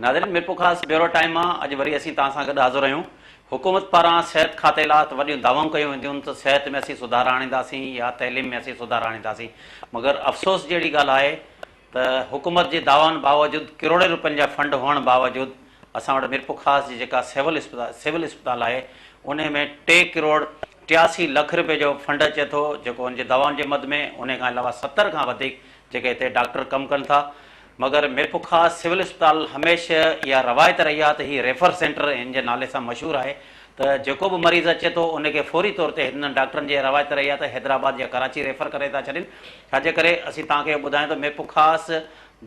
ناظرين Mirpurkhas bureau time مان اڄ وري اسين توهان سان گڏ حاضر آهيون حڪومت پاران صحت کاتي لا ته وڏيون دعوائون ڪيون وينديون ته صحت ۾ اسين سڌار آڻينداسين يا تعليم ۾ اسين سڌار آڻينداسين مگر افسوس جهڙي ڳالهه آهي ته حڪومت جي دعوائن باوجود ڪروڙين روپين جا فنڊ هئڻ باوجود اسان وٽ ميرپورخاص جي جيڪا سول اسپتال سول اسپتال آهي انهي ۾ ٽي ڪروڙ ٽياسي لک رپئي جو فنڊ اچي ٿو جيڪو هن جي دوائن جي مد ۾ انهي کان علاوه ستر کان وڌيڪ جيڪي هتي ڊاڪٽر ڪم ڪن ٿا مگر ميرپورخاص سول اسپتال هميشه اها روايت رهي آهي ته هي ريفر سينٽر هن جي نالي سان مشهور آهي ته جيڪو به مريض اچي ٿو انهي کي فوري طور تي هتن ڊاڪٽرن جي اها روايت رهي آهي ته حيدرآباد يا ڪراچي ريفر ڪري ٿا ڇڏين ڇا جي ڪري اسين توهان کي اهو ٻڌايون ته ميرپورخاص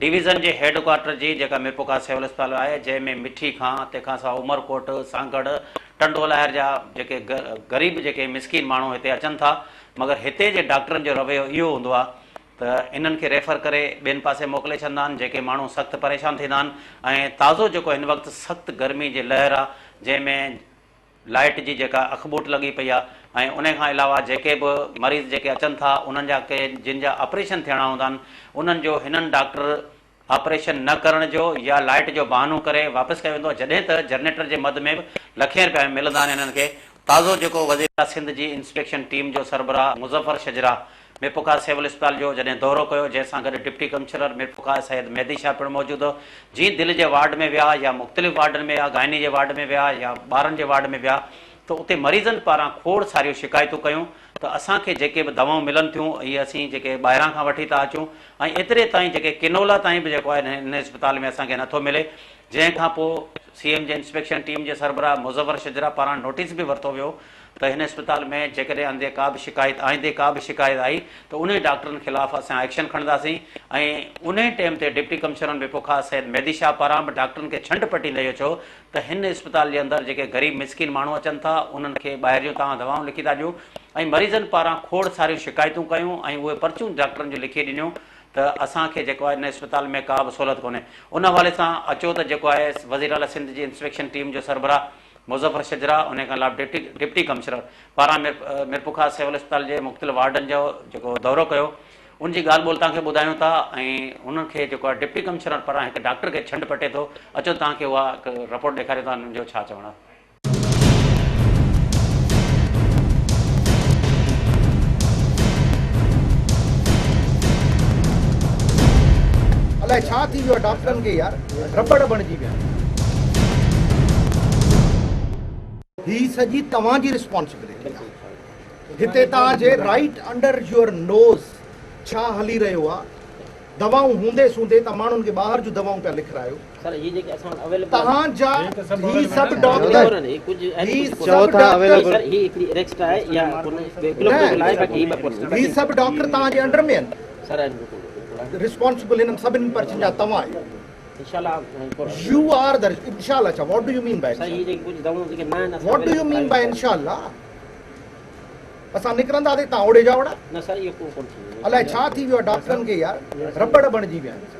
ڊويزن جي هيڊ ڪوارٽر جي جيڪا ميرپورخاص سول اسپتال آهي جنهن ۾ مٺي کان تنهن کان سواء عمرڪوٽ، سانگهڙ، ٽنڊو لاهر جا جيڪي غريب جيڪي مسڪين ماڻهو هتي اچن ٿا مگر هتي جي ڊاڪٽرن جو رويو اهو هوندو آهي ته انهن کي ريفر ڪري ٻين پاسي موڪلي ڇڏندا آهن جيڪي ماڻهو سخت پريشان ٿيندا آهن ۽ تازو جيڪو هن وقت سخت گرمي جي لهر آهي جنهن ۾ لائيٽ جي جيڪا اکٻوٽ لڳي پئي آهي ۽ انهي کان علاوه جيڪي به مريض جيڪي اچن ٿا انهن جا ڪي جن جا آپريشن ٿيڻا هوندا آهن انهن جو هنن ڊاڪٽر آپريشن نه ڪرڻ جو يا لائيٽ جو بهانو ڪري واپس ڪيو ويندو آهي جڏهن ته جنريٽر جي مد ۾ به لکين رپيا ملندا آهن هنن کي تازو جيڪو وزيراعليٰ سنڌ جي انسپيڪشن ٽيم جو سربراهه مظفر شجراح ميرپورخاص سول اسپتال جو جڏهن دورو ڪيو جنهن سان گڏ ڊپٽي ڪمشنر ميرپورخاص سيد مهدي شاهه پڻ موجود هو جي دل جي وارڊ ۾ ويا يا مختلف وارڊن ۾ ويا گائني جي وارڊ ۾ ويا يا ٻارن جي وارڊ ۾ ويا ته اتي مريضن پاران کوڙ ساريون شڪايتون ڪيون ته اسان کي جيڪي به دوائون ملن ٿيون اهي اسين جيڪي ٻاهران کان وٺي ٿا اچون ۽ ايتري تائين جيڪي ڪينولا تائين به جيڪو آهي هن اسپتال ۾ اسان کي نٿو ملي جنهن کان پوء سي ايم جي انسپيڪشن ٽيم جي سربراهه مظفر شجرا پاران نوٽيس به ورتو ويو ته هن اسپتال ۾ جيڪڏهن اندي ڪا به شڪايت آئندي ڪا به شڪايت آئي ته انهن ڊاڪٽرن خلاف اسان ايڪشن کڻنداسين ۽ انهي ٽيم تي ڊپٽي ڪمشنر م پ ک سيد مهدي شاهه پاران به ڊاڪٽرن کي ڇنڊ پٽيندي اهو چيو ته هن اسپتال جي اندر جيڪي غريب مسڪين ماڻهو اچن ٿا انهن کي ٻاهريون توهان دوائون لکي ٿا ڏيون ۽ مريضن پاران کوڙ ساريون شڪايتون ڪيون ۽ اهي پرچون ڊاڪٽرن جون لکي ڏنيون ته اسان کي جيڪو آهي ان اسپتال ۾ ڪا به سهولت ڪونهي ان حوالي سان اچو ته جيڪو آهي وزيراعليٰ سنڌ جي انسپيڪشن ٽيم جو سربراهه مظفر شجرا انهي کان علاوه ڊپٽي ڪمشنر پاران ميرپورخاص سول اسپتال جي مختلف وارڊن جو جيڪو دورو ڪيو ان جي ڳالهه ٻولهه توهان کي ٻڌايون ٿا ۽ انهن کي جيڪو آهي ڊپٽي ڪمشنر پاران هڪ ڊاڪٽر کي ڇنڊ پٽي ٿو اچو توهان کي اها هڪ رپورٽ ڏيکاريون ٿا انهن جو ڇا چوڻ آهي. الائي ڇا ٿي ويو آهي ڊاڪٽرن کي يار. رٻڙ بڻجي ويا. هي سڄي توهان جي رسپانسبلٽي آهي. هتي توهان جي رائيٽ انڊر يور نوز ڇا هلي رهيو آهي. دوائون هوندي سوندي توهان ماڻهن کي ٻاهر جون دوائون پيا لکرايو. توهان جا هي سڀ ڊاڪٽر هي سڀ ڊاڪٽر توهان جي انڊر ۾ آهن. ريسپانسبل هنن سڀني پرچين جا توهان آهيو يو آر دا انشاء الله ڇا what do you mean by what do you mean by انشاء الله اسان نڪرنداسين تان اوڙي جا اوڙا الائي ڇا ٿي ويو آهي ڊاڪٽرن کي يار رٻڙ بڻجي ويا آهن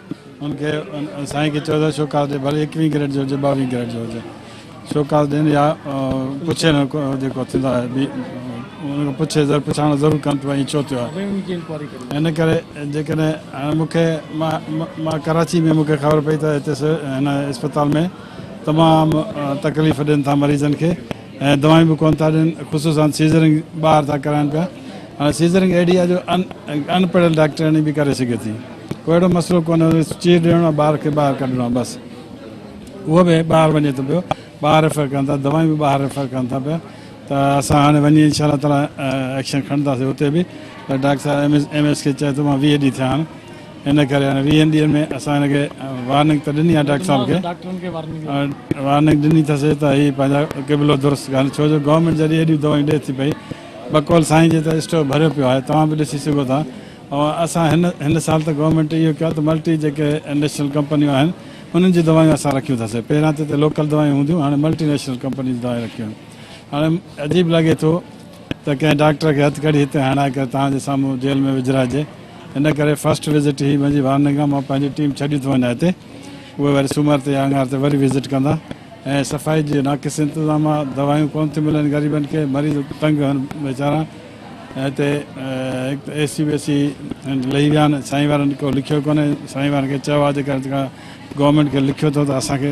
هن کي سائين کي چيو ته شوڪاز ڏي ڀلي ايڪويهين ڪريٽ جو هجي ٻاويهين ڪريٽ جو هجي شوڪاز ڏين يا پڇي نه جيڪو ٿيندا ان کان پڇي زر پڇاڻو ضرور ڪن ته ائين ڇو ٿيو آهي ان ڪري جيڪڏهن هاڻي مون کي مان ڪراچي ۾ مون کي خبر پئي ته هتي هن اسپتال ۾ تمام تڪليف ڏين ٿا مريضن کي ۽ دوائيون به ڪونه ٿا ڏين خصوصا سيزرنگ ٻاهر ٿا ڪرائن پيا هاڻي سيزرنگ اهڙي آهي جو ان ان پڙهيل ڊاڪٽرياڻي به ڪري سگهي ٿي ڪو اهڙو مسئلو ڪونه چير ڏيڻو آهي ٻار کي ٻاهر ڪڍڻو آهي بس اهو به ٻاهر وڃي ٿو پيو ٻاهر ريفر ڪن ٿا دوائيون به ٻاهر ريفر ڪن ٿا پيا ته اسان هاڻي وڃي انشاء الله تعاليٰ ايڪشن کڻنداسي اتي به ته ڊاڪٽر صاحب ايم ايس ايم ايس کي چئي ٿو مان ويهه ڏينهن ٿيا آهن ان ڪري هاڻي ويهن ڏينهن ۾ اسان هن کي وارننگ ته ڏني آهي ڊاڪٽر صاحب کي وارننگ ڏني اٿس ته هي پنهنجا قبلو درست ڪن ڇو جو گورنمينٽ جڏهن هيڏيون دوائيون ڏئي ٿي پئي بقول سائين جي ته اسٽور ڀريو پيو آهي توهان به ڏسي سگهو ٿا ۽ اسان هن هن سال ته گورنمينٽ اهو ڪيو ته ملٽي جيڪي نيشنل ڪمپنيون آهن انهن جون دوائيون اسان رکيون اٿس پهريان ته هتي لوڪل دوائيون هونديون هاڻي ملٽي نيشنل ڪمپني جون دوائيون رکيون آهن هاڻي عجيب لڳي ٿو ته ڪنهن ڊاڪٽر کي هٿ ڪڙي هتي هڻائي ڪري توهان جي سامهون جيل ۾ وجهرائجي. ان ڪري فرسٽ وزٽ هي منهنجي وارننگ آهي. مان پنهنجي ٽيم ڇڏي ٿو وڃان هتي. اهي وري سومر تي يا اڱار تي وري وزٽ ڪندا ۽ صفائي جي ناقص انتظام آهي. دوائيون ڪونه ٿيون ملن غريبن کي. مريض تنگ هن ويچارا ۽ هتي هڪ ته اي سي وي سي لهي ويا آهن. سائين وارن ڪو لکيو ڪونه. سائين وارن کي چيو آهي جيڪڏهن توهان گورنمينٽ کي لکيو اٿو ته اسان کي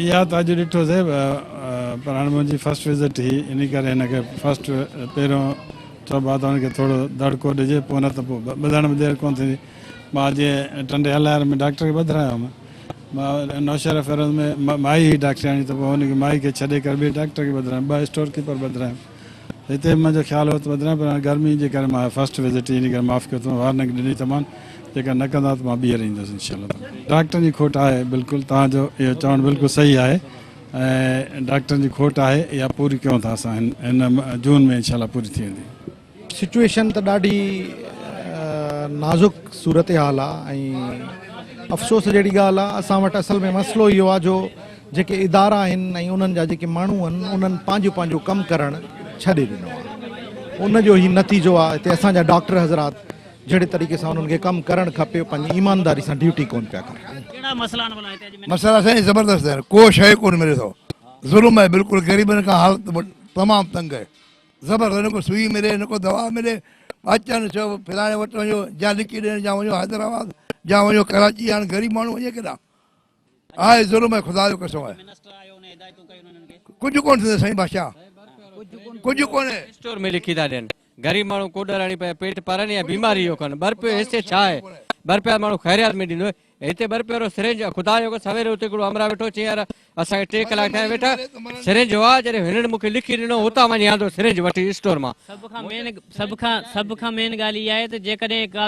اها ته اڄ ڏٺو سي پر هاڻي منهنجي فرسٽ وزٽ هي انهي ڪري هن کي فرسٽ پهريون چئبو آهي ته هن کي ٿورو دڙڪو ڏجي پوء نه ته پوء ٻڌڻ ۾ دير ڪونه ٿيندي مان اڄ ٽنڊي هلائر ۾ ڊاڪٽر کي ٻڌرايو هوم مان نوشهره فيروز ۾ مائي هئي ڊاڪٽرياڻي ته پوء هن کي مائي کي ڇڏي ڪري ٻئي ڊاڪٽر کي ٻڌرايم ٻه اسٽور ڪيپر ٻڌرايم هتي به منهنجو خيال هو ته بدران پر هاڻي گرمي جي ڪري مان فرسٽ وزٽ ئي ان ڪري معاف ڪيو اٿم وارننگ ڏني ته مان جيڪا نه ڪندا ته مان ٻيهر ايندس انشاء الله تعالٰي. ڊاڪٽرن جي کوٽ آهي بلڪل توهان جو اهو چوڻ بلڪل صحيح آهي ۽ ڊاڪٽرن جي کوٽ آهي اها پوري ڪيون ٿا اسان هن هن جون ۾ انشاء الله پوري ٿي ويندي. سچوئيشن ته ڏاڍي نازڪ صورتحال آهي ۽ افسوس جهڙي ڳالهه آهي اسان وٽ اصل ۾ مسئلو اهو آهي جو جيڪي ادارا آهن ۽ انهن جا جيڪي ماڻهو آهن انهن پنهنجو پنهنجو ڪم ڪرڻ ڇڏي ڏنو آهي ان جو هي نتيجو آهي هتي اسان جا ڊاڪٽر حضرات جهڙي طريقي سان انهن کي ڪم ڪرڻ کپي پنهنجي ايمانداري سان ڊيوٽي ڪون پيا ڪرن. ڪهڙا مسئلا آهن ڀلا هتي اڄ مينار. مسئلا سائين زبردست آهن ڪو شيء ڪون ملي ٿو ظلم آهي بلڪل غريبن کان حالت تمام تنگ آهي زبردست نه ڪو سوئي ملي نه ڪو دوا ملي اچن چئو فلاڻي وٽ وڃو جا لکي ڏين جا وڃو حيدرآباد جا وڃو ڪراچي هاڻ غريب ماڻهو وڃي ڪيڏانهن آهي ظلم ۽ خدا جو قسم آهي ڪجهه ڪونه ٿيندي سائين بادشاهه ڪجهه ڪونه. اسٽور ۾ لکي ٿا ڏين غريب ماڻهو ڪوڏر هڻي پنهنجا پيٽ پرن يا بيماري جو ڪن ٻه رپيو هيستي ڇا آهي ٻه رپيا ماڻهو خيريات ۾ ڏيندو هتي ٻه رپيو وارو سرنج خدا جو قسم سويري اتي هڪڙو همراهه ويٺو چيائين يار اسان کي ٽي ڪلاڪ ٿيا ويٺا سرنج هو آ جڏهن هنن مونکي لکي ڏنو هتان وڃي آندو سرنج وٺي اسٽور مان سڀ کان مين سڀ کان سڀ کان مين ڳالهه اها آهي ته جيڪڏهن ڪا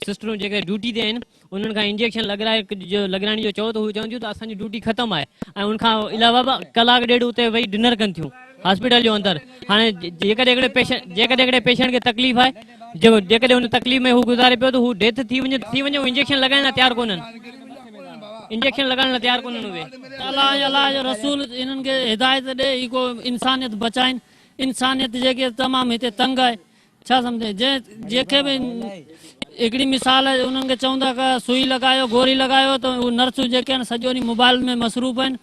سسٽرون جيڪي ڊيوٽي تي آهن انهن کان انجيڪشن لڳرائڻ جو چئو ته هو چون ٿيون ته اسان جي ڊيوٽي ختم آهي ۽ ان کان علاوه به ڪلاڪ ڏيڍ اتي ويهي ڊنر ڪن ٿيون هاسپيٽل جو اندر هاڻي جيڪڏهن پيشنٽ کي تڪليف آهي جيڪڏهن ان تڪليف ۾ هو گذاري پيو ته هو ڊيٿ ٿي وڃي ته ٿي وڃي هو انجيڪشن لڳائڻ لاء تيار ڪونهن انجيڪشن لڳائڻ لاء تيار ڪونهن اهي الله ۽ الله جو رسول انهن کي هدايت ڏي هي ڪو انسانيت بچائين انسانيت جيڪي تمام هتي تنگ آهي ڇا سمجهين جنهن جي کي به هڪڙي مثال انهن کي چون ٿا ڪه سوئي لڳايو گوري لڳايو ته اهي نرسون جيڪي آهن سڄو ڏينهن موبائيل ۾ مصروف آهن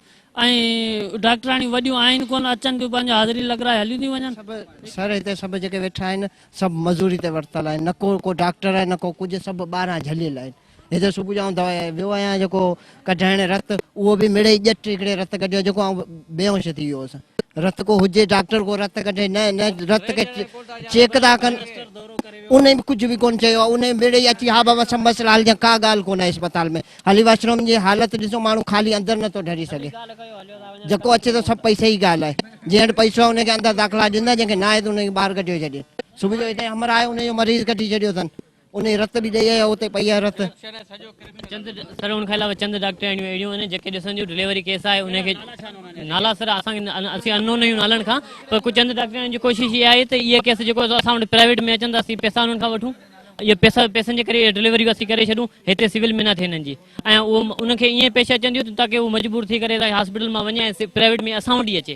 ۽ ڊاڪٽرياڻيون وڏيون آهن ڪونه اچن ٿيون پنهنجو حاضري لڳرائي هليون ٿيون وڃن. سڀ سر هتي سڀ جيڪي ويٺا آهن سڀ مزوري تي ورتل آهن نه ڪو ڪو ڊاڪٽر آهي نه ڪو ڪجهه سڀ ٻاهران جهليل آهن هتي صبح جو آئون دوائي ويو آهيان جيڪو ڪڍرائڻ رت اهو به مڙئي ڄٽ هڪڙي رت ڪڍيو جيڪو آئون بيهوش ٿي ويو هوس رت ڪو هجي ڊاڪٽر ڪو رت ڪڍي نه نه رت کي چيڪ ٿا ڪن انهي به ڪجهه به ڪون چيو آهي انهي مڙئي اچي ها بابا سڀ مسئلا حل ٿيا ڪا ڳالهه ڪون آهي اسپتال ۾ هلي واش روم جي حالت ڏسو ماڻهو خالي اندر نه ٿو ڍري سگهي جيڪو اچي ٿو سڀ پئسي جي ڳالهه آهي جنهن وٽ پئسو آهي ان کي اندر داخلا ڏيندا جنهن کي نه آهي ته ان کي ٻاهر ڪڍيو ڇڏين صبح جو هتي همراهه آهي ان جو مريض ڪڍي ڇڏيو اٿن انهي رت به ڏئي اهي اتي پئي اهي رت. چند سر ان کان علاوه چند ڊاڪٽرياڻيون اهڙيون آهن جيڪي ڏسنديون ڊليوري ڪيس آهي انهي کي نالا سر اسان کي اسين انون آهيون نالن کان پر ڪجهه چند ڊاڪٽرياڻين جي ڪوشش اها آهي ته اهي ڪيس جيڪو اسان وٽ پرائيويٽ ۾ اچن ته اسين پئسا انهن کان وٺون اهي پئسا پئسن جي ڪري اهي ڊليوريون اسين ڪري ڇڏون هتي سول ۾ نه ٿئي انهن جي ۽ اهو انهن کي ائين پيش اچن ٿيون ته تاڪي هو مجبور ٿي ڪري هاسپيٽل مان وڃي ۽ پرائيويٽ ۾ اسان وٽ ئي اچي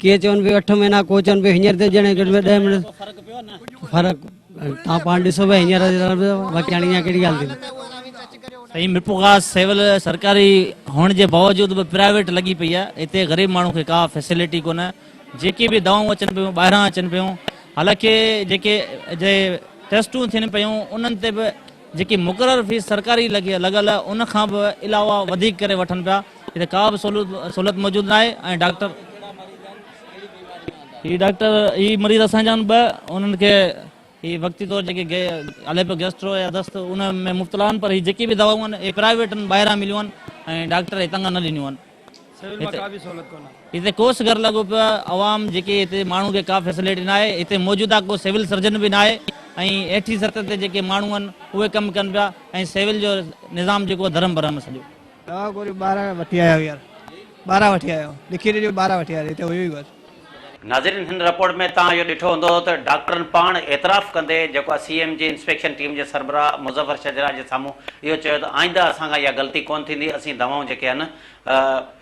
ڪي چون به اٺ مهينا ڪو چون به هينئر ته ڄڻ گهٽ ۾ ڏهه مهينا فرق تان پاڻ ڏسو به هينئر باقي هاڻي اڃا ڪهڙي ڳالهه ٿي سائين ميرپورخاص سول سرڪاري هئڻ جي باوجود به پرائيويٽ لڳي پئي آهي هتي غريب ماڻهو کي ڪا فيسلٽي ڪونه جيڪي به دوائون اچن پيون ٻاهران اچن پيون حالانڪه جيڪي جي ٽيسٽون ٿين پيون انهن تي به جيڪي مقرر فيس سرڪاري لڳل ان کان به علاوه وڌيڪ ڪري وٺن پيا جتي ڪا به سهولت موجود ناهي ۽ ڊاڪٽر هي ڊاڪٽر هي مريض اسان جا آهن ٻه انهن کي هي وقتي طور جيڪي علي پيو گيسٽرو يا دست ان ۾ مبتلا آهن پر هي جيڪي به دوائون آهن اهي پرائيويٽن ٻاهران مليون آهن ۽ ڊاڪٽر هتان کان نه ڏنيون آهن هتي ڪو سگهر لڳو پيو آهي عوام جيڪي هتي ماڻهو کي ڪا فيسليٽي ناهي هتي موجوده ڪو سول سرجن به ناهي ۽ هيٺين سطح تي جيڪي ماڻهو آهن اهي ڪم ڪن پيا ۽ سول جو نظام جيڪو آهي ڌرم برهم سڄو. دوا گوريون ٻاهران وٺي آيا آهيون يار ٻاهران وٺي آيا آهيون لکي ڏي جو ٻاهران وٺي آيا آهيون هتي هيو ئي ڪونه. ناظرين هن رپورٽ ۾ توهان اهو ڏٺو هوندو ته ڊاڪٽرن پاڻ اعتراف ڪندي جيڪو آء سي ايم جي انسپيڪشن ٽيم جي سربراهه مظفر شجراع جي سامهون اهو چيو ته آئنده اسان کان اها غلطي ڪونه ٿيندي اسين دوائون جيڪي آهن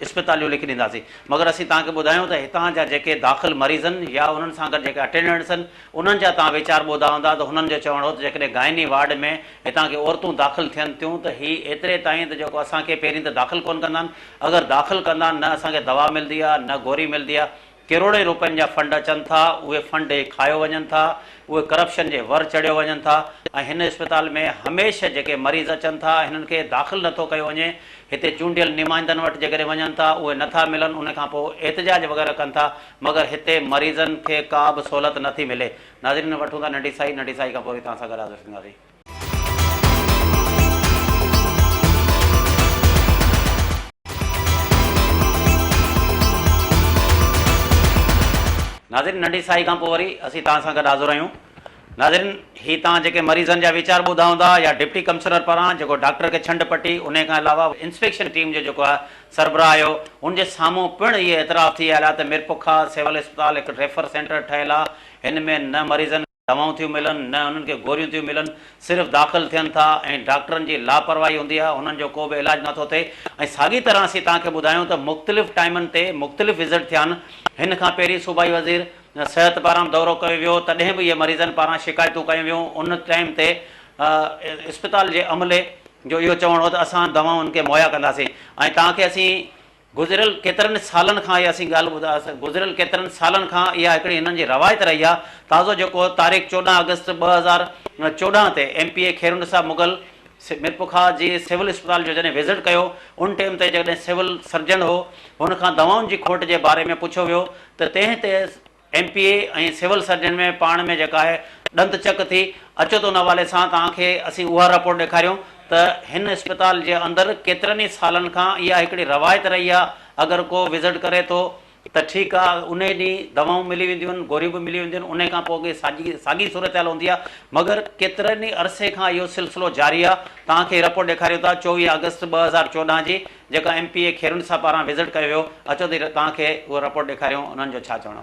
اسپتاليون لکي ڏينداسين مگر اسين توهان کي ٻڌايون ته هتان جا جيڪي داخل مريضن يا انهن سان گڏ جيڪي اٽينڊنٽس آهن انهن جا توهان ويچار ٻوڌا هوندا ته هنن جو چوڻ هو ته جيڪڏهن گائني وارڊ ۾ هتان ڪي عورتون داخل ٿين ٿيون ته هي ايتري تائين ته جيڪو اسان کي پهرين ته داخل ڪونه ڪندا آهن اگر داخل ڪندا آهن نه اسان کي دوا ملدي آهي نه گوري ملدي آهي ڪروڙين روپين جا فنڊ اچن ٿا اهي فنڊ ئي کايو وڃن ٿا اهي ڪرپشن جي ور چڙهيو وڃن ٿا ۽ هن اسپتال ۾ هميشه جيڪي مريض اچن ٿا هنن کي داخل نٿو ڪيو وڃي هتي چونڊيل نمائندن وٽ جيڪڏهن وڃن ٿا اهي نٿا ملن ان کان پوء احتجاج وغيره ڪن ٿا مگر هتي مريضن کي ڪا به سهولت نٿي ملي ناظرين وٺون ٿا ننڍي سائي ننڍي سائي کان پوري توهان سان گڏ حاضر ٿينداسين. ناظرين ننڍي ساهي کان پوء وري اسين توهان سان گڏ حاضر آهيون ناظرين هي توهان جيڪي مريضن جا ويچار ٻڌا هوندا يا ڊپٽي ڪمشنر پاران جيڪو ڊاڪٽر کي ڇنڊ پٽي انهي کان علاوه انسپيڪشن ٽيم جو جيڪو آهي سربراهه آهيو ان جي سامهون پڻ اهي اعتراف ٿي آيل آهي ته ميرپورخاص سول اسپتال هڪ ريفر سينٽر ٺهيل آهي هن ۾ نه مريضن دوائون ٿيون ملن نه انهن کي گوريون ٿيون ملن صرف داخل ٿين ٿا ۽ ڊاڪٽرن جي لاپرواهي هوندي آهي انهن جو ڪو به علاج نه ٿو ٿئي ۽ ساڳي طرح اسين توهان کي ٻڌايون ته مختلف ٽائيمن تي مختلف وزٽ ٿيا آهن هن کان پهرين صوبائي وزير صحت پاران دورو ڪيو ويو تڏهن به اهي مريضن پاران شڪايتون ڪيون ويون ان ٽائيم تي اسپتال جي عملي جو اهو چوڻ هو ته اسان دوائون انهن کي مهيا ڪنداسين ۽ توهان کي اسين گذريل ڪيترن سالن کان اها سين ڳالهه ٻڌا گذريل ڪيترن سالن کان اها هڪڙي هنن جي روايت رهي آهي تازو جيڪو تاريخ چوڏهن آگسٽ ٻه هزار چوڏهن تي M P A Khairunnisa Mughal Mirpurkhas جي سول اسپتال جو جڏهن وزٽ ڪيو ان ٽيم تي جڏهن سول سرجن هو هن کان دوائن جي کوٽ جي باري ۾ پڇيو ويو ته تنهن تي M P A ۽ civil surgeon ۾ پاڻ ۾ جيڪا آهي ڏند چڪ ٿي اچو ته ان حوالي سان توهان کي اسين اها رپورٽ ڏيکاريون ته هن اسپتال جي اندر ڪيترن ئي سالن کان اها هڪڙي روايت رهي آهي اگر ڪو وزٽ ڪري ٿو ته ٺيڪ آهي انهي ڏينهن دوائون ملي وينديون آهن گوريون به ملي وينديون آهن انهي کان پوء اڳي ساڄي ساڳي صورتحال هوندي آهي مگر ڪيترن ئي عرصي کان اهو سلسلو جاري آهي توهان کي رپورٽ ڏيکاريون ٿا چوويهه آگسٽ ٻه هزار چوڏهن جي جيڪا ايم پي اي کيرون صاحب پاران وزٽ ڪيو ويو اچو ته توهان کي اهو رپورٽ ڏيکاريون انهن جو ڇا چوڻو.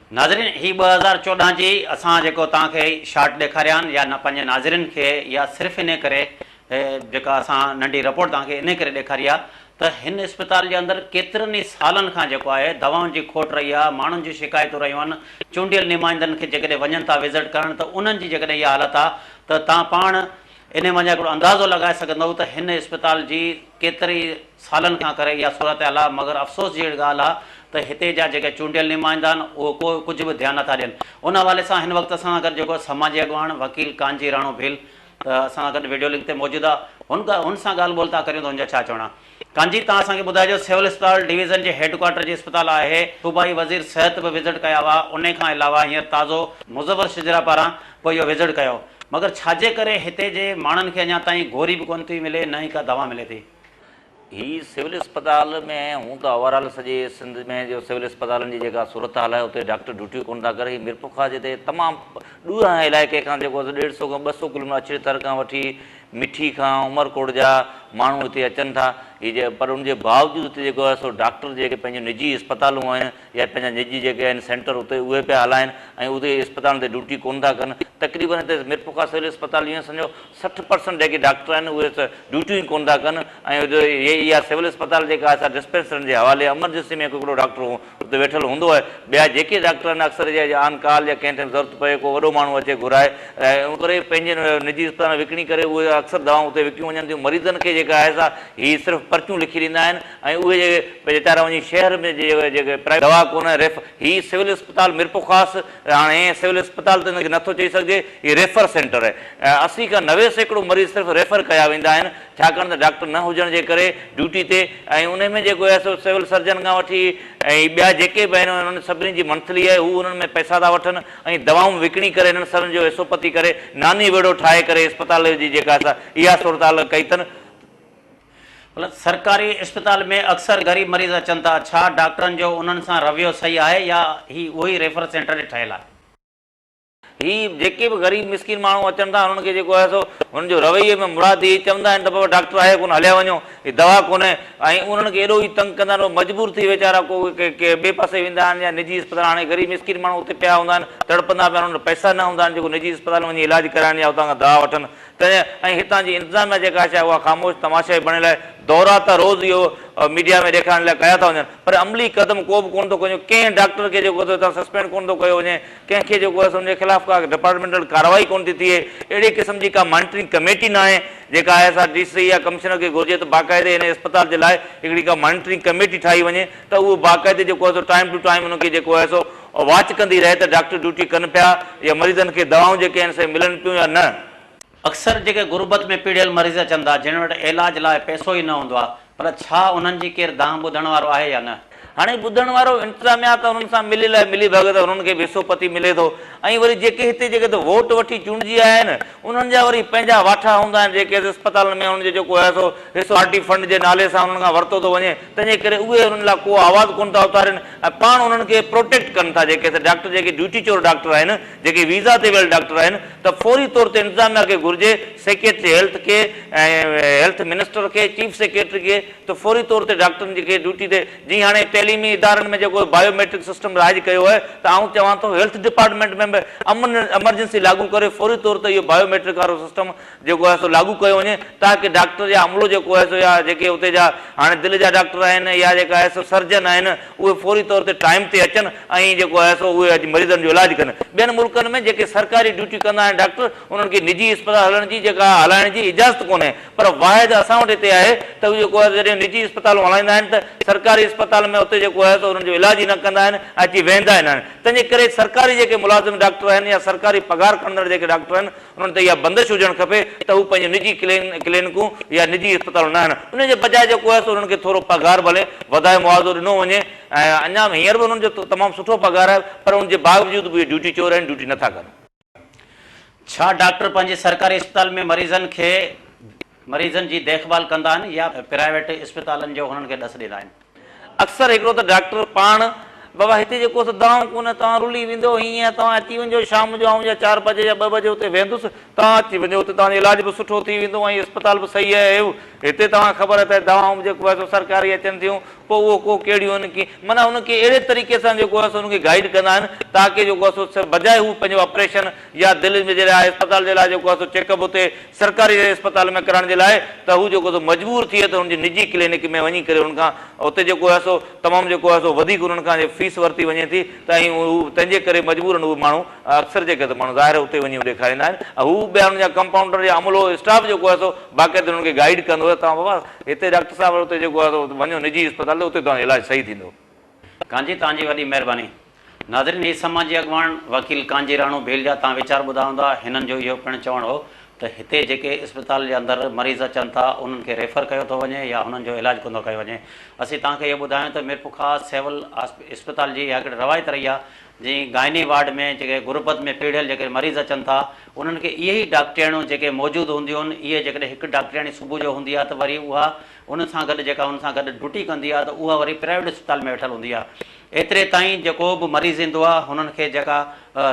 ناظرين هي ٻه هزار چوڏهن جي اسان جيڪو توهان کي شارٽ ڏيکاري آهن يا پنهنجي ناظرين کي يا صرف انهي ڪري جيڪا اسان ننڍي رپورٽ توهان کي انهي ڪري ڏيکاري آهي ته هن اسپتال جي اندر ڪيترن ئي سالن کان جيڪو آهي دوائن جي کوٽ رهي آهي ماڻهن جون شڪايتون رهيون آهن چونڊيل نمائندن کي جيڪڏهن وڃن ٿا وزٽ ڪرڻ ته انهن جي جيڪڏهن اها حالت آهي ته توهان پاڻ انهيء مان هڪڙو اندازو لڳائي سگهندؤ ته هن اسپتال جي ڪيترن ئي سالن کان ڪري اها صورتحال آهي، مگر افسوس جي اهڙي ڳالهه آهي ته هتي جا جيڪي چونڊيل نمائندا آهن، اهي ڪو ڪجهه به ڌيان نٿا ڏين. ان حوالي سان هن وقت اسان سان گڏ جيڪو سماجي اڳواڻ وڪيل ڪانجي راڻو ڀيل اسان سان گڏ وڊيو لنڪ تي موجود آهي، هن سان ڳالهه ٻولهه ٿا ڪريون ته هن جا ڇا چوڻا. ڪانجي تان اسان کي ٻڌايو جو سول اسپتال ڊويزن جي هيڊڪوارٽر جي اسپتال آهي، صوبائي وزير صحت به وزٽ ڪيا هئا، انهي کان علاوه هينئر تازو مظفر شجرا پاران به اهو وزٽ ڪيو مگر ڇاجي ڪري هتي جي ماڻهن کي اڃا تائين گوري به ڪونه ٿي ملي نه ئي ڪا دوا ملي ٿي. هي سول اسپتال ۾ هونء ته اوور آل سڄي سنڌ ۾ جو سول اسپتالن جي جيڪا صورتحال آهي اتي ڊاڪٽر ڊيوٽيون ڪونه ٿا ڪري، هي ميرپورخاص جي تي تمام ڏوهه هنهي علائقي کان جيڪو ڏيڍ سئو کان ٻه سئو ڪلوميٽر اڇڙي تر کان وٺي، مٺي کان عمرڪوٽ جا ماڻهو هتي اچن ٿا هي جي پر ان جي باوجود هتي جيڪو آهي سو ڊاڪٽر جيڪي پنهنجون نجي اسپتالون آهن يا پنهنجا نجي جيڪي آهن سينٽر اتي اهي پيا هلائن ۽ اتي اسپتالن تي ڊيوٽي ڪونه ٿا ڪن تقريبن هتي ميرپورخاص سول اسپتال ايئن سمجهو سٺ پرسنٽ جيڪي ڊاڪٽر آهن اهي ته ڊيوٽيون ئي ڪونه ٿا ڪن ۽ اها سول اسپتال جيڪا آهي سا ڊسپينسرن جي حوالي ايمرجنسي ۾ ڪو هڪڙو ڊاڪٽر اتي ويٺل هوندو آهي. ٻيا جيڪي ڊاڪٽر آهن اڪثر جي جي آن ڪال يا ڪنهن ٽيم ضرورت پوي ڪو وڏو ماڻهو اچي گهرائي ۽ ان ڪري پنهنجين نجي اسپتالن وڪڻي ڪري اهي اڪثر دوائون اتي وڪيون وڃن ٿيون مريضن کي جيڪا آهي سا هي صرف پرچون لکي ڏيندا آهن ۽ اهي جي ويچارا وڃي شهر ۾ جي جيڪي پرائيويٽ دوا ڪونه ريف هي سول اسپتال ميرپورخاص هاڻ هيئن سول اسپتال ته ان کي نٿو چئي سگهجي هي ريفر سينٽر آهي ايئن اسي کان نوي سيڪڙو مريض صرف ريفر ڪيا ويندا آهن. ڇاڪاڻ ته ڊاڪٽر نه هجڻ جي ڪري ڊيوٽي تي ۽ انهي ۾ جيڪو ايس او سول سرجن کان وٺي ۽ ٻيا جيڪي به آهن انهن سڀني جي منٿلي آهي هو انهن ۾ پئسا ٿا وٺن ۽ دوائون وڪڻي ڪري انهن سرن جو ايس او پتي ڪري ناني ويڙهو ٺاهي ڪري اسپتال جي جيڪا سا اها صورتحال ڪئي اٿن ڀلا سرڪاري اسپتال ۾ اڪثر غريب مريض اچن ٿا ڇا ڊاڪٽرن جو انهن سان رويو صحيح آهي يا هي اهو ئي ريفر سينٽر ٺهيل آهي. هي جيڪي به غريب مسڪين ماڻهو اچن ٿا انهن کي جيڪو آهي سو هن جو رويي ۾ مراد اهي چوندا آهن ته بابا ڊاڪٽر آهي ڪونه هليا وڃو هي دوا ڪونه ۽ انهن کي ايڏو ئي تنگ ڪندا آهن هو مجبور ٿي ويچارا ڪو ڪنهن ٻئي پاسي ويندا آهن يا نجي اسپتال هاڻي غريب مسڪين ماڻهو اتي پيا هوندا آهن تڙپندا پيا انهن وٽ پئسا نه هوندا آهن جيڪو نجي اسپتال ۾ وڃي علاج ڪرائن يا اتان کان دوا وٺن تنهن ۽ هتان جي انتظاميا جيڪا آهي اها خاموش تماشائي بڻيل آهي دورا ته روز اهو ميڊيا ۾ ڏيکارڻ لاء ڪيا ٿا وڃن پر عملي قدم ڪو به ڪونه ٿو کنيو ڪنهن ڊاڪٽر کي جيڪو هتان سسپينڊ ڪونه ٿو ڪيو وڃي ڪنهن کي جيڪو آهي سو ان جي خلاف ڪا ڊپارٽمينٽل ڪارروائي ڪونه ٿي ٿئي، اهڙي قسم جي ڪا مانيٽرنگ ڪميٽي ناهي، جيڪا I S R D C يا ڪمشنر کي گهرجي ته باقاعدي هن اسپتال جي لاء هڪڙي ڪا مانيٽرنگ ڪميٽي ٺاهي وڃي ته اهو باقاعدي جيڪو آهي سو ٽائيم ٽو ٽائيم ان کي جيڪو آهي سو واچ ڪندي رهي ته ڊاڪٽر ڊيوٽي ڪن پيا يا مريضن کي دوائون جيڪي آهن سي ملن پيون يا نه. اڪثر جيڪي غربت ۾ پيڙهيل مريض اچن ٿا، جن وٽ علاج لاء پئسو ئي نه هوندو آهي، ڀلا ڇا انهن جي ڪير دانهن ٻڌڻ وارو آهي يا نه؟ هاڻي ٻڌڻ وارو انتظاميا ته انهن سان مليل آهي، ملي ڀڳت انهن کي به حصو پتي ملي ٿو ۽ وري جيڪي هتي جيڪي ته ووٽ وٺي چونڊجي آيا آهن، انهن جا وري پنهنجا واٺا هوندا آهن، جيڪي ته اسپتالن ۾ انهن جو جيڪو آهي سو حصو پارٽي فنڊ جي نالي سان انهن کان ورتو ٿو وڃي، تنهنجي ڪري اهي انهن لاء ڪو آواز ڪونه ٿا اٿارين ۽ پاڻ انهن کي پروٽيڪٽ ڪن ٿا، جيڪي ته ڊاڪٽر جيڪي ڊيوٽي چور ڊاڪٽر آهن، جيڪي ويزا تي ويل ڊاڪٽر آهن ته فوري طور تي انتظاميا کي گهرجي سيڪريٽري هيلٿ کي ۽ هيلٿ منسٽر کي چيف سيڪريٽري کي ته فوري طور تي ڊاڪٽرن جي کي ڊيوٽي تي جي هاڻي تعليمي ادارن ۾ جيڪو بايو ميٽرڪ سسٽم رائج ڪيو آهي ته آئون چوان ٿو هيلٿ ڊپارٽمينٽ ۾ به امن ايمرجنسي لاڳو ڪري فوري طور تي اهو بايو ميٽرڪ وارو سسٽم جيڪو آهي سو لاڳو ڪيو وڃي تاڪه ڊاڪٽر يا عملو جيڪو آهي سو يا جيڪي اتي جا هاڻي دل جا ڊاڪٽر آهن يا جيڪا آهي سو سرجن آهن اهي فوري طور تي ٽائيم تي اچن ۽ جيڪو آهي سو اهي اڄ مريضن جو علاج ڪن ٻين ملڪن ۾ جيڪي سرڪاري ڊيوٽي ڪندا آهن ڊاڪٽر انهن کي نجي اسپتال هلڻ جي جيڪا هلائڻ جي اجازت ڪونهي پر واحد اسان وٽ هتي آهي ته اهي جيڪو آهي سو جڏهن نجي اسپتالون هلائيندا آهن ته سرڪاري اسپتال ۾ اتي جيڪو آهي سو انهن جو علاج ئي نه ڪندا آهن ۽ اچي ويهندا ئي نه آهن تنهنجي ڪري سرڪاري جيڪي ملازم ڊاڪٽر آهن يا سرڪاري پگهار کڻندڙ جيڪي ڊاڪٽر آهن انهن تي اها بندش هجڻ کپي ته هو پنهنجون نجي ڪلينڪون يا نجي اسپتالون نه هڻن، ان جي بجاء جيڪو آهي سو انهن کي ٿورو پگهار ڀلي وڌائي معاوضو ڏنو وڃي ۽ اڃا هينئر به انهن جو تمام سٺو پگهار آهي پر ان جي باوجود به اهي ڊيوٽي چور آهن، ڊيوٽي نه ٿا ڪن. ڇا ڊاڪٽر پنهنجي سرڪاري اسپتال ۾ مريضن کي مريضن جي ديکڀال ڪندا آهن يا پرائيويٽ اسپتالن جو هنن کي ڏس ڏيندا آهن. اڪثر هڪڙو ته ڊاڪٽر پاڻ، بابا هتي جي ڪو ته دواؤن ڪونهن، توهان رلي ويندو هين يا توهان اچي وڃجو شام جو آئون يا چار بجي يا ٻه بجي اتي ويهندس، توهان اچي وڃجو اتي توهان جو علاج به سٺو ٿي ويندو ۽ اسپتال به صحيح اهيو، هتي توهان کي خبر آهي ته دوائون به جيڪو آهي سو سرڪاري اچن ٿيون پوء اهو ڪو ڪهڙيون آهن ڪي معنيٰ هنن کي اهڙي طريقي سان جيڪو آهي سو هنن کي گائيڊ ڪندا آهن تاڪه جيڪو آهي سو بجاء هو پنهنجو آپريشن يا دل ۾ جڏهن آء اسپتال جي لاء جيڪو آهي سو چيڪ اپ اتي سرڪاري ري اسپتال ۾ ڪرائڻ جي لاء ته هو جيڪو سو مجبور ٿئي ته هن جي نجي ڪلينڪ ۾ وڃي ڪري هن کان اتي جيڪو آهي سو تمام جيڪو آهي سو وڌيڪ انهن کان جي فيس ورتي وڃي ٿي ته ۽ هو تنهن جي ڪري مجبورن اهي ماڻهو اڪثر جيڪي ته ماڻهو ظاهر اتي وڃي ڏيکاريندا آهن ۽ هو ٻيا انهن جا ڪمپائونڊر يا عملو اسٽاف جيڪو آهي سو باقاعده انهن کي گائيڊ ڪندو ته توهان بابا هتي ڊاڪٽر صاحب اتي جيڪو آهي سو وڃو نجي اسپتال ته اتي توهان جو علاج صحيح ٿيندو. ڪانجي توهان جي وڏي مهرباني. ناظرين هي سماجي اڳواڻ وڪيل ڪانجي راڻو ڀيل جا تان ويچار ٻڌا هوندا هنن جو اهو پڻ چوڻ هو ته هتي جيڪي اسپتال جي اندر مريض اچن ٿا انهن کي ريفر ڪيو ٿو وڃي يا هنن جو علاج ڪوندو ڪيو وڃي اسين توهان کي اهو ٻڌايون ته ميرپورخاص سول اسپتال جي اها هڪڙي روايت رهي آهي جي گائني وارڊ ۾ جيڪي غربت ۾ پيڙهيل جيڪي مريض اچن ٿا انهن کي اهي ئي ڊاڪٽرياڻيون جيڪي موجود هونديون آهن اهي جيڪڏهن هڪ ڊاڪٽرياڻي صبح جو هوندي آهي ته وري اها ان سان گڏ جيڪا ان سان گڏ ڊوٽي ڪندي آ ته اها وري پرائيويٽ اسپتال ۾ ويٺل هوندي آ ايتري تائين جيڪو به مريض ايندو آ هنن کي جيڪا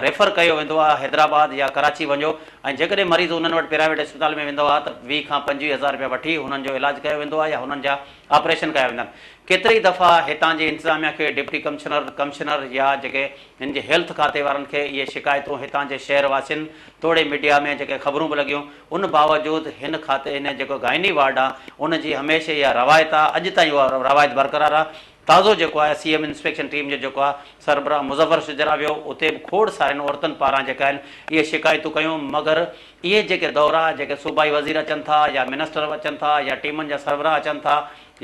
ريفر ڪيو ويندو آ حيدرآباد يا ڪراچي وڃو ۽ جيڪڏهن مريض انهن وٽ پرائيويٽ اسپتال ۾ ويندو آ ته ويهه کان پنجويهه هزار رپيا وٺي هنن جو علاج ڪيو ويندو آ يا هنن جا آپريشن ڪيا ويندا آهن ڪيتري ئي دفعا هتان جي انتظاميا کي ڊپٽي ڪمشنر ڪمشنر يا جيڪي هن جي هيلٿ کاتي وارن کي اهي شڪايتون هتان جي شهر واسين توڙي ميڊيا ۾ جيڪي خبرون به لڳيون ان باوجود هن کاتي هن جيڪو گائني وارڊ آ ان جي هميشه اها روايت آ اڄ تائين اها روايت برقرار آ تازو جيڪو آهي سي ايم انسپيڪشن ٽيم جو جيڪو آ سربراهه مظفر شجرا ويو اتي به کوڙ سارين عورتن پاران جيڪا آهن اهي شڪايتون ڪيون مگر اهي جيڪي دورا جيڪي صوبائي وزير اچن ٿا يا منسٽر اچن ٿا يا ٽيمن جا سربراهه اچن ٿا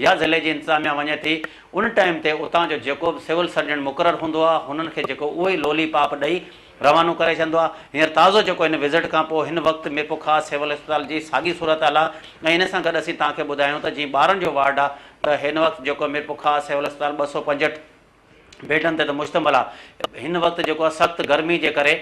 يا ضلعي جي انتظاميا وڃي ٿي ان ٽائيم تي اتان جو جيڪو به سول سرجن مقرر هوندو آ هنن کي جيڪو اهو ئي لولي پاپ ڏئي روانو ڪري ڇڏندو آهي هينئر تازو جيڪو هن وزٽ کان پوء هن وقت ميرپورخاص سول اسپتال جي ساڳي صورتحال آهي ۽ ان سان گڏ اسين توهان کي ٻڌايون ته جيئن ٻارن جو وارڊ آهي ته هن وقت جيڪو ميرپورخاص سول اسپتال ٻه سؤ پنجهٺ بيڊن تي ته مشتمل آهي هن وقت جيڪو آهي سخت گرمي جي ڪري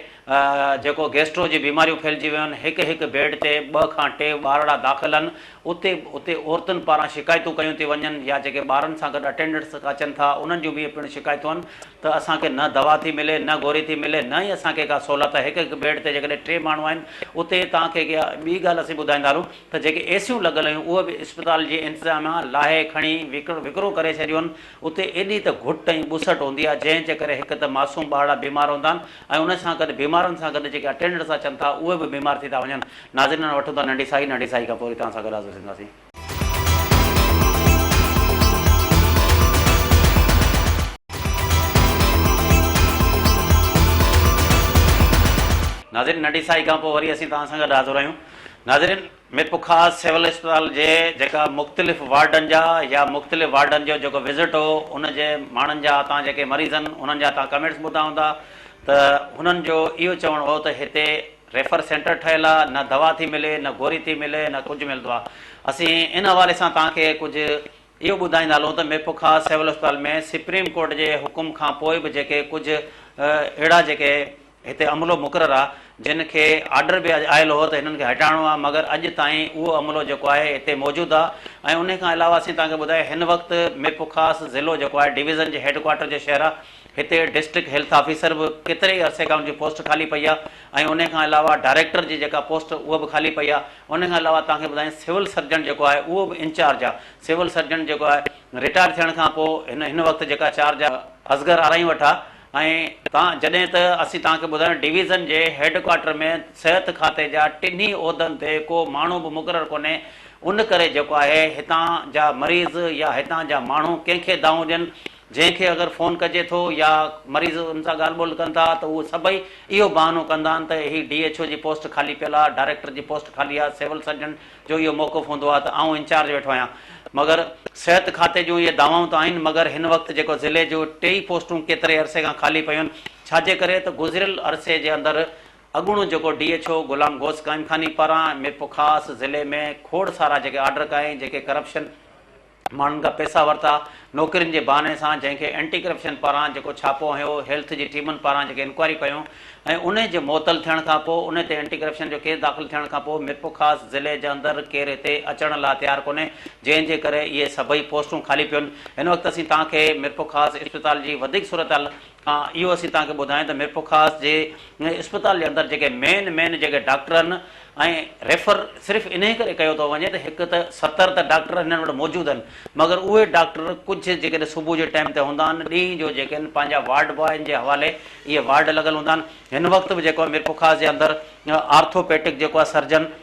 جيڪو گيسٽرو جي بيماريون ڦهلجي ويون آهن هڪ هڪ بيڊ تي ٻه کان ٽي ٻارڙا داخل آهن اتي اتي عورتن پاران شڪايتون ڪيون ٿي وڃن يا جيڪي ٻارن سان گڏ اٽينڊنٽس اچن ٿا انهن جون به پڻ شڪايتون آهن ته اسان کي نه دوا ٿي ملي نه گوري ٿي ملي نه ئي اسان کي ڪا سھولت ھڪ ھڪ بيڊ تي جيڪڏھن ٽي ماڻھو آھن اتي توھان کي ڪي ٻي ڳالھ اسين ٻڌائيندا ھلون ته جيڪي اي سيون لڳل ھيون اھي به اسپتال جي انتظاميا لاھي کڻي وڪرو ڪري ڇڏيون اتي ايڏي ته گھٽ ۽ ٻسٽ ھوندي آھي جنھن جي ڪري ھڪ ته معصوم ٻارڙا بيمار ھوندا آھن ۽ انھن سان گڏ بيمارن سان گڏ جيڪي اٽينڊنٽس اچن ٿا اھي به بيمار ٿي ٿا وڃن ناظرين ھاڻي وٺون ٿا ننڍي سائي ننڍي سائي کان پوري توھان سان گڏ حاضر ٿينداسين. ناظرين ننڍي ساهي کان پوء وري اسين توهان سان گڏ حاضر آهيون ناظرين مير پوکاس سول اسپتال جي جيڪا مختلف وارڊن جا يا مختلف وارڊن جو جيڪو وزٽ هو ان جي ماڻهن جا اتان جيڪي مريضن انهن جا توهان ڪمينٽس ٻڌا هوندا ته هنن جو اهو چوڻ هو ته هتي ريفر سينٽر ٺهيل آ، نه دوا ٿي ملي، نه گوري ٿي ملي، نه ڪجهه ملندو آ. اسين ان حوالي سان توهان کي ڪجهه اهو ٻڌائيندا هلون ته ميرپورخا سول اسپتال ۾ سپريم ڪورٽ جي حڪم کان پوء به جيڪي ڪجهه اهڙا جيڪي هتي عملو مقرر آ جن کي آرڊر به آيل هو ته هنن کي هٽائڻو آ مگر اڄ تائين اهو عملو جيڪو آهي هتي موجود آ ۽ انهي کان علاوه اسين توهان کي ٻڌائي هن وقت ميرپورخاص ضلعو جيڪو آهي ڊويزن جي هيڊ ڪوارٽر جو شهر آ هتي ڊسٽرڪٽ هيلٿ آفيسر به ڪيتري ئي عرصي کان ان جي پوسٽ خالي پئي آهي ۽ ان کان علاوه ڊائريڪٽر جي جيڪا پوسٽ اها به خالي پئي آهي ان کان علاوه توهان کي ٻڌايان سول سرجن جيڪو آهي اهو به انچارج آهي سول سرجن جيڪو آهي رٽائر ٿيڻ کان پوء هن هن وقت جيڪا چارج اصغر آرائين وٽ آهي ۽ توهان جڏهن ته اسين توهان کي ٻڌايان ڊويزن جي هيڊ ڪوارٽر ۾ صحت کاتي جا ٽنهي عهدن تي ڪو ماڻهو به مقرر ڪونهي ان ڪري جيڪو آهي هتان جا مريض يا هتان جا ماڻهو ڪنهن کي دانهون ڏين جنهن کي اگر فون ڪجي ٿو يا مريض ان سان ڳالهه ٻولهه ڪن ٿا ته اهي سڀئي اهو بهانو ڪندا آهن ته هي ڊي ايڇ او جي پوسٽ خالي پيل آهي، ڊائريڪٽر جي پوسٽ خالي آهي، سول سرجن جو اهو موقف هوندو آهي ته آئون انچارج ويٺو آهيان مگر صحت کاتي جون اهي دعوائون ته آهن مگر هن وقت جيڪو ضلعي جو ٽيئي پوسٽون ڪيتري عرصي کان خالي پيون آهن ڇاجي ڪري ته گذريل عرصي جي اندر اڳوڻو جيڪو D H O Ghulam Ghaus Qaimkhani پاران م پ خاص ضلعي ۾ کوڙ سارا جيڪي آرڊر ڪيائين جيڪي ڪرپشن ماڻهن کان پئسا ورتا، نوڪرين جي بهاني سان، جنهن کي اينٽي ڪرپشن پاران جيڪو ڇاپو هنيو، هيلٿ جي ٽيمن پاران جيڪي انڪوائريون ڪيون ۽ انهي جي معطل ٿيڻ کان پوء انهي تي اينٽي ڪرپشن جو ڪيس داخل ٿيڻ کان پوء ميرپورخاص ضلعي جي اندر ڪير هتي اچڻ لا تيار ڪونهي جنهن جي ڪري اهي سڀئي پوسٽون خالي پيون هن وقت اسين توهان کي ميرپورخاص اسپتال جي وڌيڪ صورتحال اهو اسين توهان کي ٻڌايون ته ميرپورخاص جي اسپتال جي اندر جيڪي مين مين جيڪي ڊاڪٽر آهن ۽ ريفر صرف انهي ڪري ڪيو ٿو وڃي ته هڪ ته ستر ته ڊاڪٽر هنن وٽ موجود آهن مگر اهي ڊاڪٽر ڪجهه جيڪڏهن صبح جي ٽائيم تي هوندا آهن ڏينهن جو جيڪي آهن پنهنجا وارڊ بوائن جي حوالي اهي وارڊ لڳل هوندا آهن هن وقت به جيڪو آهي ميرپورخاص جي اندر آرٿوپيٽڪ جيڪو آهي سرجن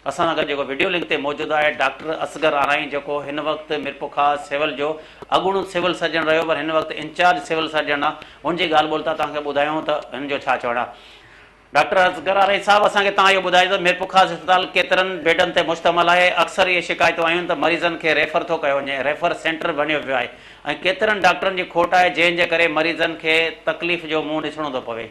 اسان سان گڏ جيڪو وڊيو لنڪ تي موجود آهي ڊاڪٽر اصغر آرائين جيڪو هن وقت ميرپورخاص سول جو اڳوڻو سول سرجن رهيو پر هن وقت انچارج سول سرجن آ ان جي ڳالهه ٻولهه تان توهان کي ٻڌايون ته هن جو ڇا چوڻ آ ڊاڪٽر اصغر آرائين صاحب اسان کي توهان اهو ٻڌايو ته ميرپورخاص اسپتال ڪيترن بيڊن تي مشتمل آهي اڪثر اهي شڪايتون آيون ته مريضن کي ريفر ٿو ڪيو وڃي ريفر سينٽر بڻيو پيو آهي ۽ ڪيترن ڊاڪٽرن جي کوٽ آهي جنهن جي ڪري مريضن کي تڪليف جو منهن ڏسڻو ٿو پوي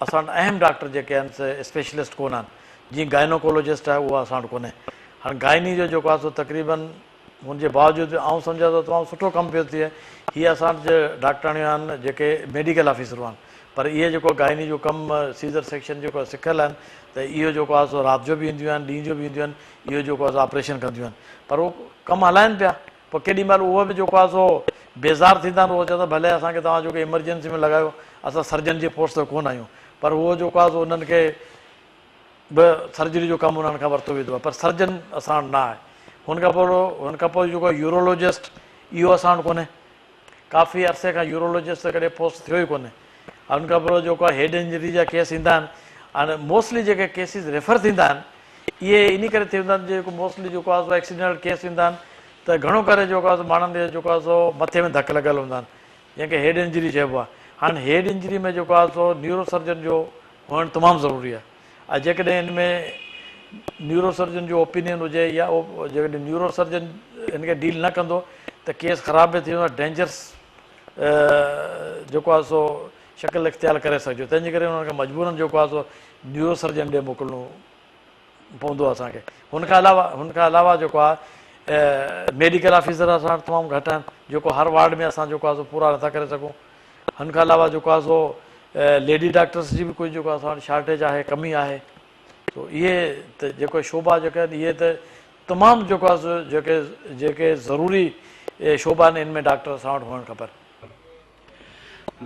اسان وٽ اهم ڊاڪٽر جيڪي آهن سي اسپيشلسٽ ڪونه آهن. جيئن گائنوڪولوجسٽ آهي اهو اسان وٽ ڪونهي. هاڻ گائني جو جيڪو آهي سو تقريبن هن جي باوجود به آئون سمجهان ٿو تمام سٺو ڪم پيو ٿئي. هي اسان وٽ جي ڊاڪٽراڻيون آهن جيڪي ميڊيڪل آفيسرون آهن پر اهي جيڪو گائني جو ڪم سيزر سيڪشن جيڪو آهي سکيل آهن ته اهو جيڪو آهي سو رات جو به اينديون آهن ڏينهن جو به اينديون آهن. اهو جيڪو آهي سو آپريشن ڪنديون آهن پر اهو ڪم هلائن پيا. پوء ڪيڏي مهل اهي به جيڪو آهي سو بيزار ٿيندا آهن، اهي چوندا ڀلي اسان کي توهان جيڪو ايمرجنسي ۾ لڳايو، اسان سرجن جي پوسٽ تي ڪونه آهيون، پر اهو جيڪو آهي سو انهن کي به سرجري جو ڪم انهن کان ورتو ويندو آهي، پر سرجن اسان وٽ نه آهي. هن کان پوء هن کان پوء جيڪو يورولوجسٽ اهو اسان وٽ ڪونهي، ڪافي عرصي کان يورولوجسٽ سان ڪڏهن پوسٽ ٿيو ئي ڪونهي ۽ ان کان پوء جيڪو آهي هيڊ انجري جا ڪيس ايندا آهن ۽ موسٽلي جيڪي ڪيسز ريفر ٿيندا آهن اهي انهي ڪري ٿيندا آهن جيڪو موسٽلي جيڪو آهي سو ايڪسيڊينٽل ڪيس ايندا آهن ته گهڻو ڪري جيڪو آهي سو ماڻهن کي جيڪو آهي سو مٿي ۾ ڌڪ لڳل هوندا آهن جنهن کي هيڊ انجري چئبو آهي هاڻ هيڊ انجري ۾ جيڪو آهي سو نيورو سرجن جو هئڻ تمام ضروري آهي. ۽ جيڪڏهن ان ۾ نيوروسرجن جو اوپينين هجي يا جيڪڏهن نيوروسرجن ان کي ڊيل نه ڪندو ته ڪيس خراب به ٿي ويندو ۽ ڊينجرس جيڪو آهي سو شڪل اختيار ڪري سگهجو تنهنجي ڪري انهن کي مجبورن جيڪو آهي سو نيوروسرجن ڏي موڪلڻو پوندو آهي اسان کي هن کان علاوه هن کان علاوه جيڪو آهي ميڊيڪل آفيسر اسان وٽ تمام گهٽ آهن جيڪو هر وارڊ ۾ اسان جيڪو آهي سو پورا نٿا ڪري سگهون ھن کان علاوه جيڪو آھي سو ليڊي ڊاڪٽرس جي به ڪجهه جيڪو اسان وٽ شارٽيج آھي ڪمي آھي سو اھي ته جيڪو شعبا جيڪا آھن اھي ته تمام جيڪو آھي سو جيڪي جيڪي ضروري شعبا آھن ان ۾ ڊاڪٽر اسان وٽ ھئڻ کپن.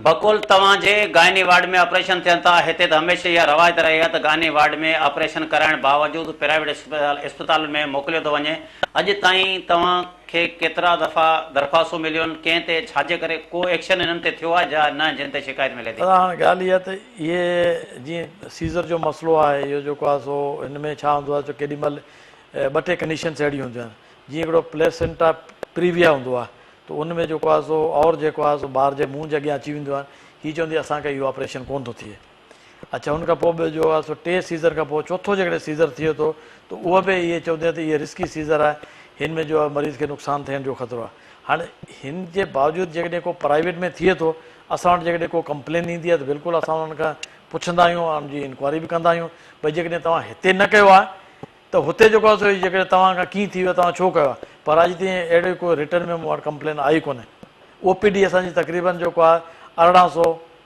بقول توھان جي گائني وارڊ ۾ آپريشن ٿين ٿا ھتي ته ھميشه اھا روايت رھي آھي ته گائني وارڊ ۾ آپريشن ڪرائڻ باوجود پرائيويٽ اسپتالن ۾ موڪليو ٿو وڃي اڄ تائين توھان کي ڪيترا دفعا درخواستون مليون، ڪنهن تي، ڇا جي ڪري ڪو ايڪشن انهن تي ٿيو آهي جا نه جن تي شڪايت ملي ٿي. پر هاڻ ڳالهه اها ته اهي جيئن سيزر جو مسئلو آهي اهو جيڪو آهي سو هن ۾ ڇا هوندو آهي جو ڪيڏي مهل ٻه ٽي ڪنڊيشنس اهڙيون هونديون آهن جيئن هڪڙو پليسينٽا پريويا هوندو آهي ته ان ۾ جيڪو آهي سو اور جيڪو آهي سو ٻار جي منهن جي اڳيان اچي وينديون آهن هي چوندي اسان کي اهو آپريشن ڪونه ٿو ٿئي. اڇا ان کان پوء به جو آهي سو ٽي سيزر کان پوء چوٿو جيڪڏهن سيزر ٿئي ٿو ته اهو به اهي چون ٿا ته اهي رسڪي سيزر آهي هن ۾ جو آهي مريض کي نقصان ٿيڻ جو خطرو آهي هاڻ هن جي باوجود جيڪڏهن ڪو پرائيويٽ ۾ ٿئي ٿو اسان وٽ جيڪڏهن ڪو ڪمپلين ايندي آهي ته بلڪل اسان انهن کان پڇندا آهيون ۽ ان جي انڪوائري به ڪندا آهيون ڀئي جيڪڏهن توهان هتي نه ڪيو آهي ته هتي جيڪو آهي سو جيڪڏهن توهان کان ڪيئن ٿي ويو توهان ڇو ڪيو آهي پر اڄ تائين اهڙي ڪو رٽن ۾ مون وٽ ڪمپلين آئي ڪونهي او پي ڊي اسان جي تقريبن جيڪو آهي ارڙهن سو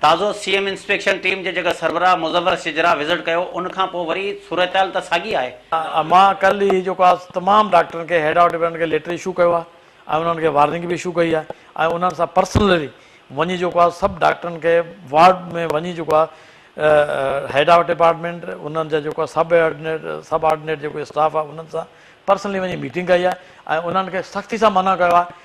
تازو سي ايم انسپيڪشن ٽيم جي جڳھ سربراھ مظفر شجراح وزٽ ڪيو ان کان پوء وري صورتحال ته ساڳي آھي. مان ڪلھ ئي جيڪو آ تمام ڊاڪٽرن کي ھيڊ آف ڊپارٽمينٽ کي ليٽر اشو ڪيو آ ۽ انھن کي وارننگ به اشو ڪئي آ ۽ انھن سان پرسنلي وڃي جيڪو آ سڀ ڊاڪٽرن کي وارڊ ۾ وڃي جيڪو آ ھيڊ آف ڊپارٽمينٽ انھن جا جيڪو آ سب آرڊنيٽ سب آرڊنيٽ جيڪو اسٽاف آ انھن سان پرسنلي وڃي ميٽنگ ڪئي آ ۽ انھن کي سختي سان منع ڪيو آ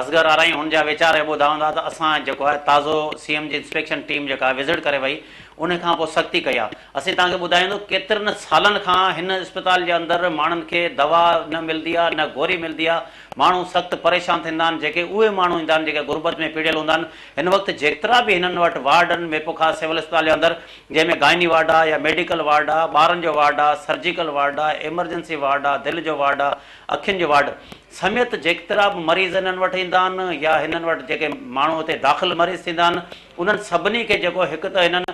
اصغر آرائين هن جا ويچار هي ٻڌا هوندا ته اسان جيڪو آهي تازو سي ايم جي انسپيڪشن ٽيم جيڪا وزٽ ڪري وئي ان کان پوء سختي ڪئي آ اسين توهان کي ٻڌايوندو ڪيترن سالن کان هن اسپتال جي اندر ماڻهن کي دوا نه ملدي آ نه گوري ملدي آ ماڻهو سخت پريشان ٿيندا آهن جيڪي اهي ماڻهو ايندا آهن جيڪي غربت ۾ پيڙهيل هوندا آهن هن وقت جيترا به هنن وٽ وارڊ آهن ميپوخاص سول اسپتال جي اندر جنهن ۾ گائني وارڊ آ يا ميڊيڪل وارڊ آ ٻارن جو وارڊ آ سرجيڪل وارڊ آ ايمرجنسي وارڊ آ دل جو وارڊ آ اکين جو وارڊ سميت جيڪترا به مريض هنن وٽ ايندا آهن يا هنن وٽ جيڪي ماڻهو هتي داخل مريض ٿيندا آهن انهن سڀني کي جيڪو هڪ ته هنن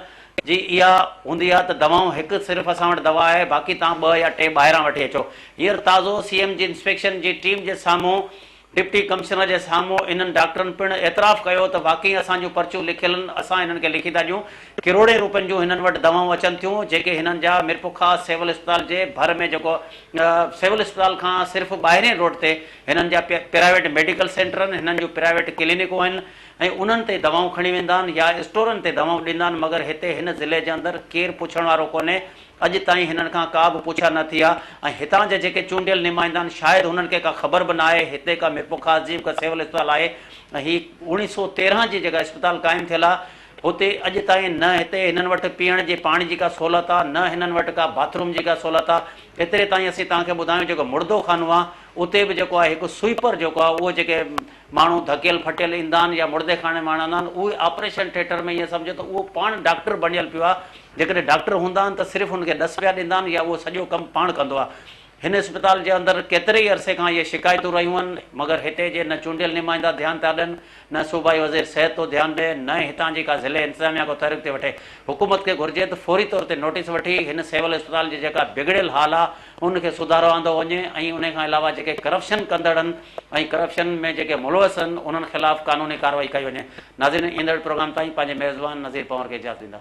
جي اها هوندي آهي ته دوائون هڪ صرف اسان وٽ دوا آهي باقي توهان ٻه يا ٽي ٻاهران وٺي اچو هينئر تازو سي ايم جي انسپيڪشن جي ٽيم جي سامهون ڊپٽي ڪمشنر جي سامهون انهن ڊاڪٽرن پڻ اعتراف ڪيو ته واقعي اسان جون پرچيون لکيل آهن اسان هنن کي لکي ٿا ڏيون ڪروڙين روپين جون هنن وٽ دوائون اچن ٿيون جيڪي هنن جا ميرپورخاص سول اسپتال جي ڀر ۾ جيڪو سول اسپتال کان صرف ٻاهرين روڊ تي هنن جا پرائيويٽ ميڊيڪل سينٽر آهن هنن جون پرائيويٽ ڪلينڪون آهن ۽ انهن تي دوائون کڻي ويندا آهن يا اسٽورن تي دوائون ڏيندا آهن مگر هتي هن ضلعي جي اندر ڪير پڇڻ وارو ڪونهي اڄ تائين هنن کان ڪا به پڇا نه ٿي آهي ۽ هتان جا جيڪي چونڊيل نمائندا آهن شايد هنن کي ڪا خبر به نه آهي هتي ڪا ميرپورخاص جي ڪا سول اسپتال آهي ۽ هي اوڻيهه سؤ تيرهن جي جيڪا اسپتال قائم ٿيل آهي هتي اڄ تائين نه هتي هنن وٽ پيئڻ جي پاڻي جي ڪا سهولت آ نه هنن وٽ ڪا باٿ روم جي ڪا سهولت آ ايتري تائين اسين توهان کي ٻڌايون جيڪو مڙدو خانو آ اتي به جيڪو آ هڪ سوئيپر جيڪو آ اهو جيڪي ماڻهو ڌڪيل ڦٽيل ايندا آهن يا مڙدي خاني مان آڻندا آهن اهي آپريشن ٿيٽر ۾ ائين سمجهو ته اهو پاڻ ڊاڪٽر بڻيل پيو آ جيڪڏهن ڊاڪٽر هوندا آهن ته صرف هن کي ڏس پيا ڏيندا آهن يا اهو سڄو ڪم پاڻ ڪندو آ هن اسپتال جي اندر ڪيتري ئي عرصي کان اهي شڪايتون رهيون آهن، مگر هتي جي نه چونڊيل نمائندا ڌيان پيا ڏين، نه صوبائي وزير صحت ٿو ڌيان ڏئي، نه ئي هتان جي ڪا ضلعي انتظاميا ڪو تحرڪ ٿي وٺي. حڪومت کي گهرجي ته فوري طور تي نوٽيس وٺي هن سول اسپتال جي جيڪا بگڙيل حال آ ان کي سڌارو آندو وڃي ۽ انهي کان علاوه جيڪي ڪرپشن ڪندڙ آهن ۽ ڪرپشن ۾ جيڪي ملوث آهن انهن خلاف قانوني ڪارروائي ڪئي وڃي. ناظرين ايندڙ پروگرام تائين پنهنجي ميزبان نظير پنور کي اجازت ڏيندا.